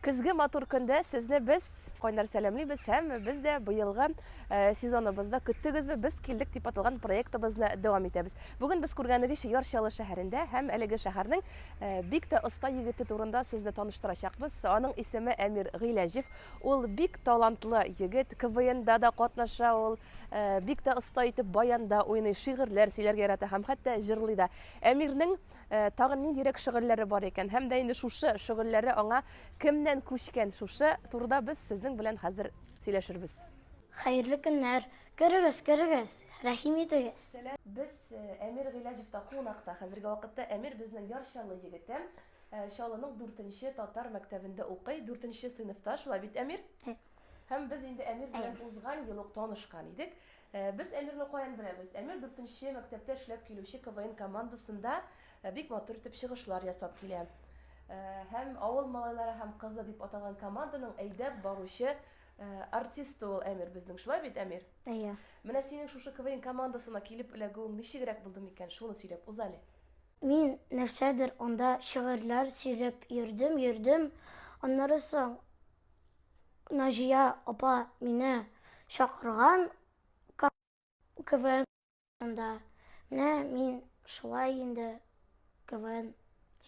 Көзге матур көндә сезне без кайнар сәламлибез һәм без дә быелгы э, сезоныбызда көттегезме без килдек дип аталган проектыбызны дәвам итәбез. Бүген без күргәнегезчә Яр Чаллы шәһәрендә һәм әлеге шәһәрнең э, бик тә оста егете турында сезне таныштырачакбыз. Аның исеме Әмир Гыйләҗев. Ул бик талантлы егет, КВНда да катнаша ул, э, бик тә оста итеп баянда уйный, шигырьләр сөйләргә ярата һәм хәтта җырлый да. Әмирнең Э, тагын ниндирәк шөгыльләре бар икән һәм дә инде шушы шөгыльләре аңа кемнән күчкән шушы турыда без сезнең белән хәзер сөйләшербез хәерле көннәр керегез керегез рәхим итегез без э, әмир гыйләҗевта кунакта хәзерге вакытта әмир безнең яр чаллы егете э, чаллының дүртенче татар мәктәбендә укый дүртенче сыйныфта шулай бит әмир һәм без инде әмир белән узган ел ук танышкан идек Без Әмирне каян беләбез? Әмир дүртенче мәктәптә эшләп килүче КВН командасында бик матур итеп чыгышлар ясап килә. Һәм авыл малайлары һәм кызы дип аталган команданың әйдәп баручы артисты ул Әмир безнең. Шулай бит, Әмир? Әйе. Менә синең шушы КВН командасына килеп эләгүең ничегрәк булды микән? Шуны сөйләп уз әле. Мин нәрсәдер анда шигырьләр сөйләп йөрдем, йөрдем. Аннары соң Наҗия апа мине чакырган КВНда. Менә мин шулай инде КВН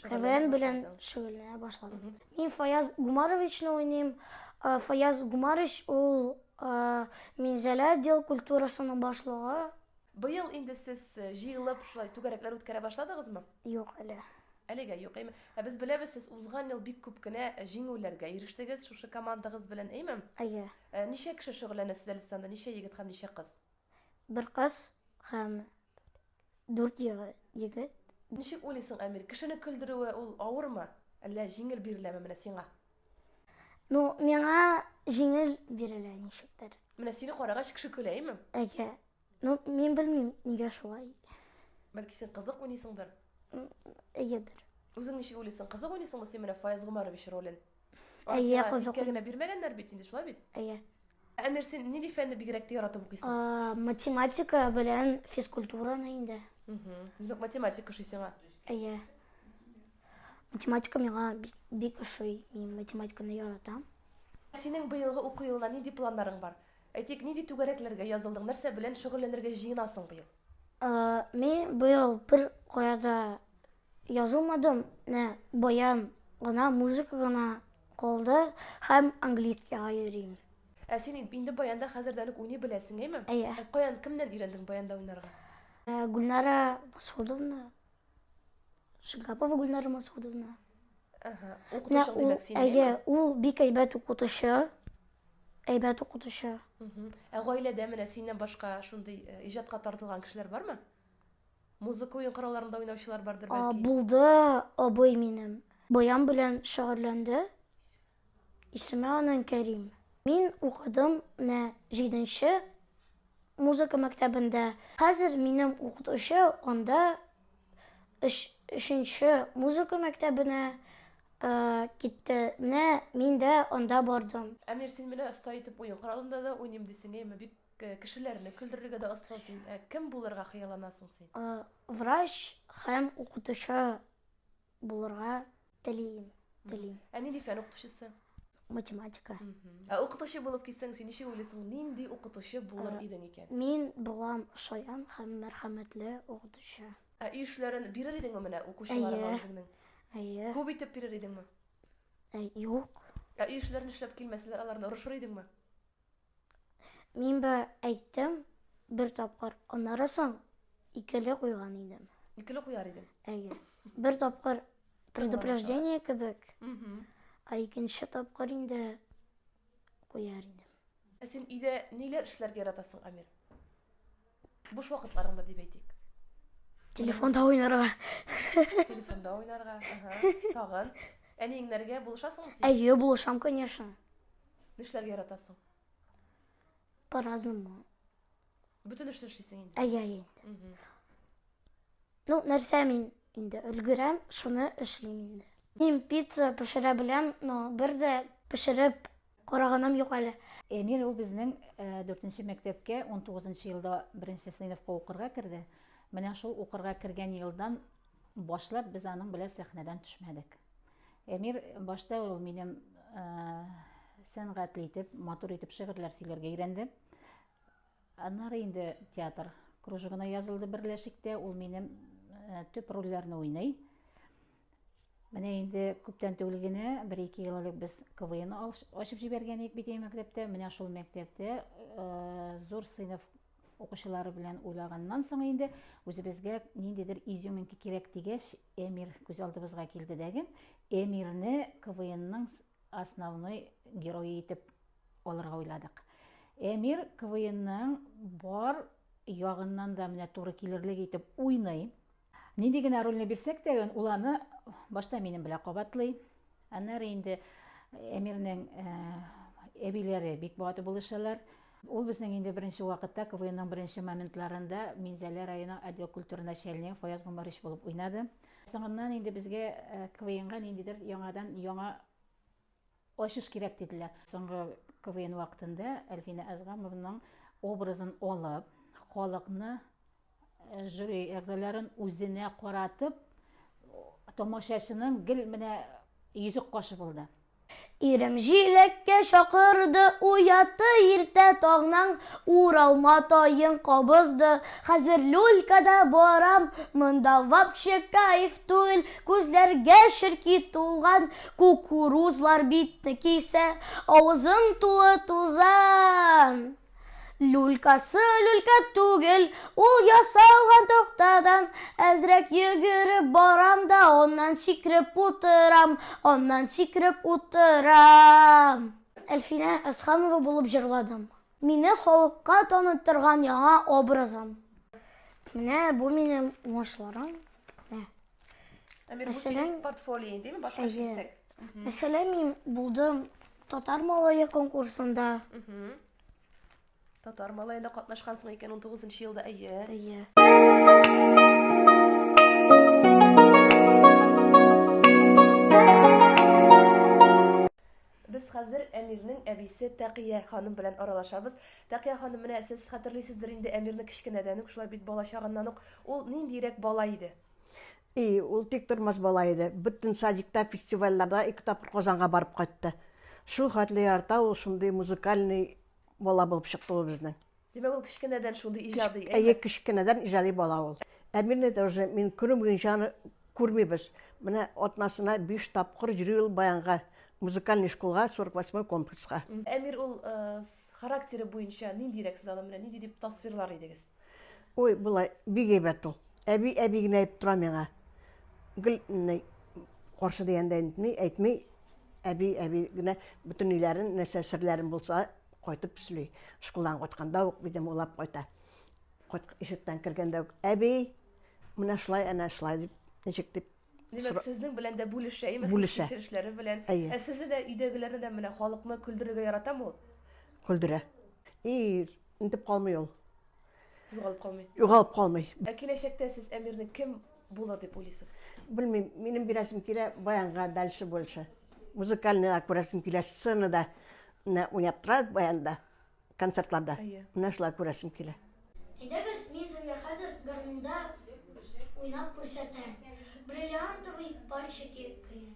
КВН белән шөгыльләнә башладым. Мин Фаяз Гумаровичны уйныйм. Э, Фаяз Гумарович ул э, Минзәлә отдел культурасының башлыгы. Быел инде сез э, җыелып шулай түгәрәкләр үткәрә башладыгызмы? Юк әле. Әлегә юк, әйме? Ә без беләбез, сез узган ел бик күп кенә җиңүләргә ирештегез шушы командагыз белән, әйме? Әйе. Ә, ничә кеше шөгыльләнә сездә Лисанда, ничә егет һәм ничә кыз? Бер кыз һәм дүрт егет. Ничек уйлыйсың, Әмир, кешене көлдерүе ул авырмы, әллә җиңел биреләме менә сиңа? Ну, миңа җиңел бирелә ничектер. Менә сине карагач кеше көлә, әйме? Әйе. Ну, мин белмим, нигә шулай. Бәлки син кызык уйныйсыңдыр? Әйедер. Үзең ничек уйлыйсың? Кызык уйныйсыңмы син менә Фаяз Гомарович ролен? Әйе, кызык. Тиккә генә бирмәгәннәр бит инде, шулай бит? Әйе. Әмир, син нинди фәнне бигрәк тә яратып укыйсың? Математика белән физкультураны инде. Димәк, математика ошый сиңа? Әйе. Математика миңа бик ошый. Мин математиканы яратам. Синең быелгы уку елына нинди планнарың бар? Әйтик, нинди түгәрәкләргә язылдың, нәрсә белән шөгыльләнергә җыенасың быел? Мин быел бер кая да язылмадым, менә баян гына, музыка гына калды һәм английскийга йөрим. Ә син инде баянда хәзердән үк уйный беләсең, әйме? Әйе. Каян, кемнән өйрәндең баянда уйнарга? Гөлнара Масгудовна. Шингапова Гүлнара Масудовна. Ага. Укытучы димәк син. Әйе, ул бик әйбәт укытучы. Әйбәт укытучы. Ә гаиләдә менә синнән башка шундый э, иҗатка тартылган кешеләр бармы? Музыка уен коралларында уйнаучылар бардыр бәлки. Булды абый минем. Баян белән шөгыльләнде. Исеме аның Кәрим. Мин укыдым менә җиденче музыка мәктәбендә. Хәзер минем укытучы анда өч, өченче музыка мәктәбенә китте, менә мин дә анда бардым. Әмир, син менә оста итеп уен коралында да уйныйм дисең, әйеме? Бик кешеләрне көлдерергә дә оста син. Ә кем булырга хыялланасың син? Врач һәм укытучы булырга Телим, телим. Ә нинди фән укытучысы? Математика. Ә укытучы булып китсәң, син ничек уйлыйсың, нинди укытучы булыр э, идең икән? Мин булам шаян һәм мәрхәмәтле укытучы. Ә өй эшләрен бирер идеңме менә укучыларга үзеңнең? Әйе. Күп итеп бирер идеңме? Юк. Ә өй эшләрен эшләп килмәсәләр, аларны орышыр идеңме? Мин бе әйттем бер тапкыр, аннары соң икеле куйган идем. Икеле куяр идем. Әйе. Бер тапкыр предупреждение кебек, а икенче тапкыр инде куяр идем. Ә син өйдә ниләр эшләргә яратасың, Амир? Буш вакытларыңда дип әйтик. Телефонда уйнарга. Телефонда уйнарга. Ага. Тагын. Әниеңнәргә булышасың син? Әйе, булышам, конечно. Нишләргә яратасың? По-разному. Бөтен эшне эшлисең инде. Әйе, әйе. Угу. Ну, нәрсә мин инде өлгерәм, шуны эшлим инде. Мин пицца пешерә беләм, но бер дә пешереп Караганым юк әле. Эмиль ул безнең дүртенче мәктәпкә он тугызынчы елда беренче сыйныфка укырга керде. Менә шул укырга кергән елдан башлап без аның белән сәхнәдән төшмәдек. Эмир башта ул минем э, сәнгатьле итеп, матур итеп шигырьләр сөйләргә өйрәнде. Аннары инде театр кружогына язылды берләшектә, ул минем э, төп рольләрне уйный. Менә инде күптән түгел генә, бер-ике ел элек без КВН ачып җибәргән идек бит мәктәптә. Менә шул мәктәптә э, зур сыйныф укучылары белән уйлаганнан соң инде үзебезгә ниндидер изюминка кирәк дигәч, Эмир күз алдыбызга килде дәген. Эмирне КВНның основной герое итеп алырга уйладык. Эмир КВНның бар ягыннан да менә туры килерлек итеп уйный. Нинди генә рольне бирсәк тә, ул аны башта минем белән кабатлый. Аннары инде Әмирнең әбиләре бик баты булышалар. Ул безнең инде беренче вакытта КВНның беренче моментларында Минзәлә районы отдел культура начальнигы Фаяз Гомәрович булып уйнады. Соңыннан инде безгә э, КВНга ниндидер яңадан яңа Ачыш кирәк диделәр. Соңгы КВН вакытында Әлфинә Әзгамовның образын алып, халыкны, жюри әгъзаларын үзенә каратып, тамашачының гел менә йөзек кашы булды. Ирем җиләккә чакырды, уятты иртә таңнан, уралма таен кабызды, хәзер люлькада барам, монда вообще кайф түгел, күзләргә черки тулган, Кукурузлар битне кисә, авызың тулы тузан. Люлькасы люлька түгел, ул ясалган тохтадан. Әзрәк йөгереп барам да, аннан сикреп утырам, аннан сикреп утырам. Әлфинә Әсханова булып җырладым. Мине халыкка таныттырган яңа образым. Менә бу минем уңышларым. Әмир, бу Мәсәлән- синең портфолио, димме? Башка Әйе. килсәк. Мәсәлән, мин булдым татар малае конкурсында. Мгм. Татар малаенда катнашкансың икән 19 елда, әйе. Әйе. Без хәзер Әмирнең әбисе Тәкия ханым белән аралашабыз. Тәкия ханым, менә сез хәтерлисездер инде Әмирне кечкенәдән үк, шулай бит бала чагыннан ук. Ул ниндиерәк бала иде? И, ул тиктормас бала иде. Бөтен садикта, фестивальләрдә ике тапкыр Казанга барып кайтты. Шул хәтле ярата ул, шундый музыкальный бала булып чыкты ул безнең. Димәк, ул кечкенәдән шундый иҗади, әйме? Әйе, кечкенәдән иҗади бала ул. Әмирне дә уже мин көне буе җаны күрмибез. Менә атнасына биш тапкыр йөри ул баянга, музыкальный школга, 48 комплекска. Әмир ул характеры буенча ниндирәк сез аны менә нинди дип тасвирлар идегез? Ой, болай бик әйбәт ул. Әби, әби генә әйтеп тора миңа. Гел каршы дигәндә әйтми, әби, әби генә бөтен өйләрен, нәрсә серләрен булса, Кайтып сөйли, шкулдан кайтканда ук минем уйлап кайта. Ишектән кергәндә үк, әби, менә шулай, әнә шулай дип, ничек дип Димәк, сезнең белән дә бүлешә, име бүлешә. кешеләре белән. Әйе. Ә сезне дә өйдәгеләрне дә менә халыкны көлдерергә яратамы ул? Көлдерә. И, интеп калмый ул. Югалып калмый. Югалып калмый. Ә киләчәктә сез Әмирне кем булыр дип уйлыйсыз? Белмим, минем бирәсем килә баянга дальше больше. Музыкальныйга күрәсем килә сценада менә уйнап тора баянда, концертларда. Менә шулай күрәсем килә. Әйдәгез, мин сезгә хәзер гармунда уйнап күрсәтәм. Бриллиантовый пальчики көен.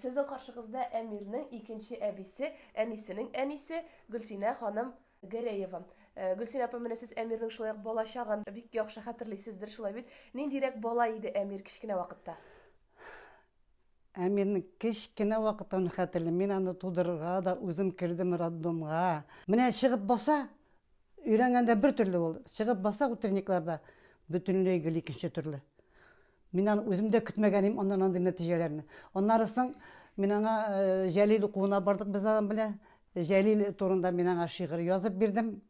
Сезнең каршыгызда Әмирнең икенче әбисе, әнисенең әнисе Гөлсинә ханым Гәрәева. Э, Гөлсинә апа, менә сез Әмирнең шулай ук бала чагын бик яхшы хәтерлисездер, шулай бит? Ниндирәк бала иде Әмир кечкенә вакытта? Ә мин кечкенә вакыттан хәтерлим, мин аны тудырырга да үзем кердем роддомга. Менә чыгып баса, өйрәнгәндә бер төрле ул, чыгып баса утренникларда, бөтенләй гел икенче төрле. Мин аны үзем дә көтмәгән идем аннан андый нәтиҗәләрне. Аннары соң мин аңа Җәлил укуына бардык без аның белән. Җәлил турында мин аңа шигырь язып бирдем.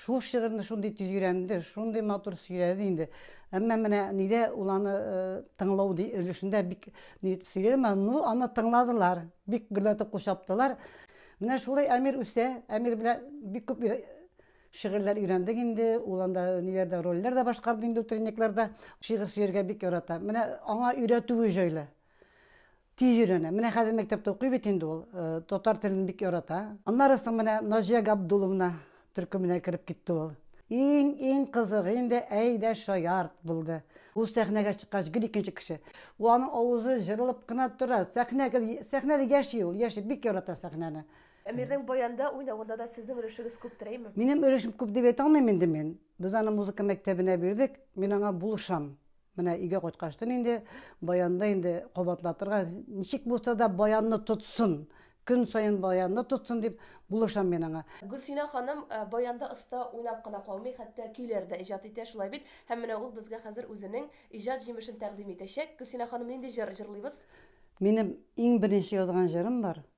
Шул шигырьне шундый тиз өйрәнде, шундый матур сөйләде инде. Әмма менә нидә ул аны э, тыңлау ди- өлешендә бик ни итеп сөйләде, әмма ну аны тыңладылар, бик гөрләтеп кул чаптылар. Менә шулай Әмир үсә, Әмир белән бик күп өйрә- шигырьләр өйрәндек инде, ул анда ниләрдә рольләр дә башкарды инде утренникларда. Шигырь сөяргә бик ярата. Менә аңа өйрәтүе җайлы. Тиз өйрәнә. Менә хәзер мәктәптә укый бит инде ул. Э, татар телен бик ярата. Аннары соң менә Наҗия Габдуловна төркеменә кереп китте ул. Иң иң кызыгы инде әйдә шаярт булды. Ул сәхнәгә чыккач гел икенче кеше. Ул аның авызы җырылып кына тора. Сәхнә гел сәхнәдә яши ул, яши, бик ярата сәхнәне. Әмирнең баянда уйнавында да сезнең өлешегез күптер, әйме? Минем өлешем күп дип әйтә алмыйм инде мин. Без аны музыка мәктәбенә бирдек, мин аңа булышам. Менә өйгә кайткачтын инде баянны инде кабатлатырга, ничек булса да баянны тотсын, көн саен баянны тотсын дип булышам мин аңа. Гөлсинә ханым баянда оста уйнап кына калмый, хәтта көйләр дә иҗат итә, шулай бит? Һәм менә ул безгә хәзер үзенең иҗат җимешен тәкъдим итәчәк. Гөлсинә ханым, нинди җыр җырлыйбыз? Минем иң беренче язган җырым бар,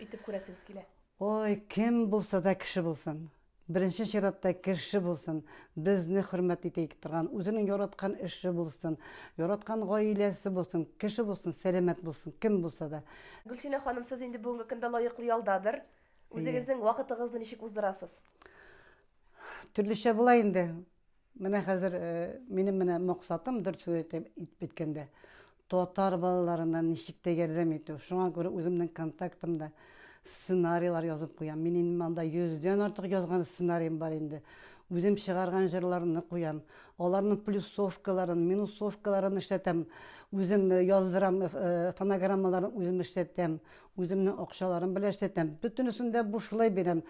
Итеп күрәсегез килә? Ой, кем булса да кеше булсын. Беренче чиратта кеше булсын, безне хөрмәт итә торган, үзенең яраткан эше булсын, яраткан гаиләсе булсын, кеше булсын, сәламәт булсын, кем булса да. Гөлсинә ханым, сез инде бүгенге көндә лаеклы ялдадыр. Үзегезнең вакытыгызны ничек уздырасыз? Төрлечә була инде. Менә хәзер минем менә максатым, дөрт сүз әйтеп беткәндә, татар балаларына ничек тә ярдәм итү. Шуңа күрә үземнең контактымда сценарийлар язып куям. Мин инде монда 100 дән артык язган сценарием бар инде. Үзем чыгарган җырларны куям. Аларның плюсовкаларын, минусовкаларын эшләтәм. Үзем яздырам, фонограммаларын үзем эшләтәм. Үземнең акчаларым белән эшләтәм. Бөтенесен дә бушлай бирәм.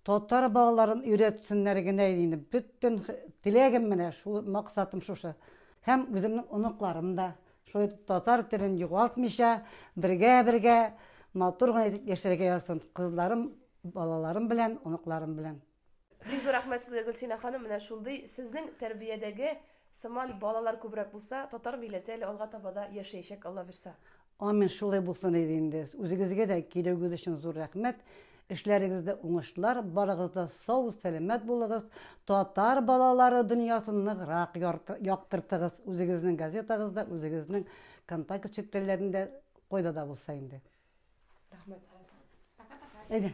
Татар балаларын өйрәтсеннәр генә иде инде. Бөтен теләгем менә шул, максатым шушы. Һәм үземнең оныкларым да шулай итеп татар телен югалтмыйча, бергә-бергә матур гына итеп яшәргә язсын. Кызларым, балаларым белән, оныкларым белән. Бик зур рәхмәт сезгә, Гөлсинә ханым. Менә шундый сезнең тәрбиядәге сыман балалар күбрәк булса, татар милләте әле алга таба да яшәячәк, Аллабирса. Амин, шулай булсын иде инде. Үзегезгә дә килүегез өчен зур рәхмәт. Эшләрегездә уңышлар, барыгыз да сау, сәламәт булыгыз, татар балалары дөньясын ныграк яктыртыгыз, үзегезнең газетагызда, үзегезнең контакт челтәрләрендә, кайда да булса инде. Рәхмәт. Пока-пока. Әйдә.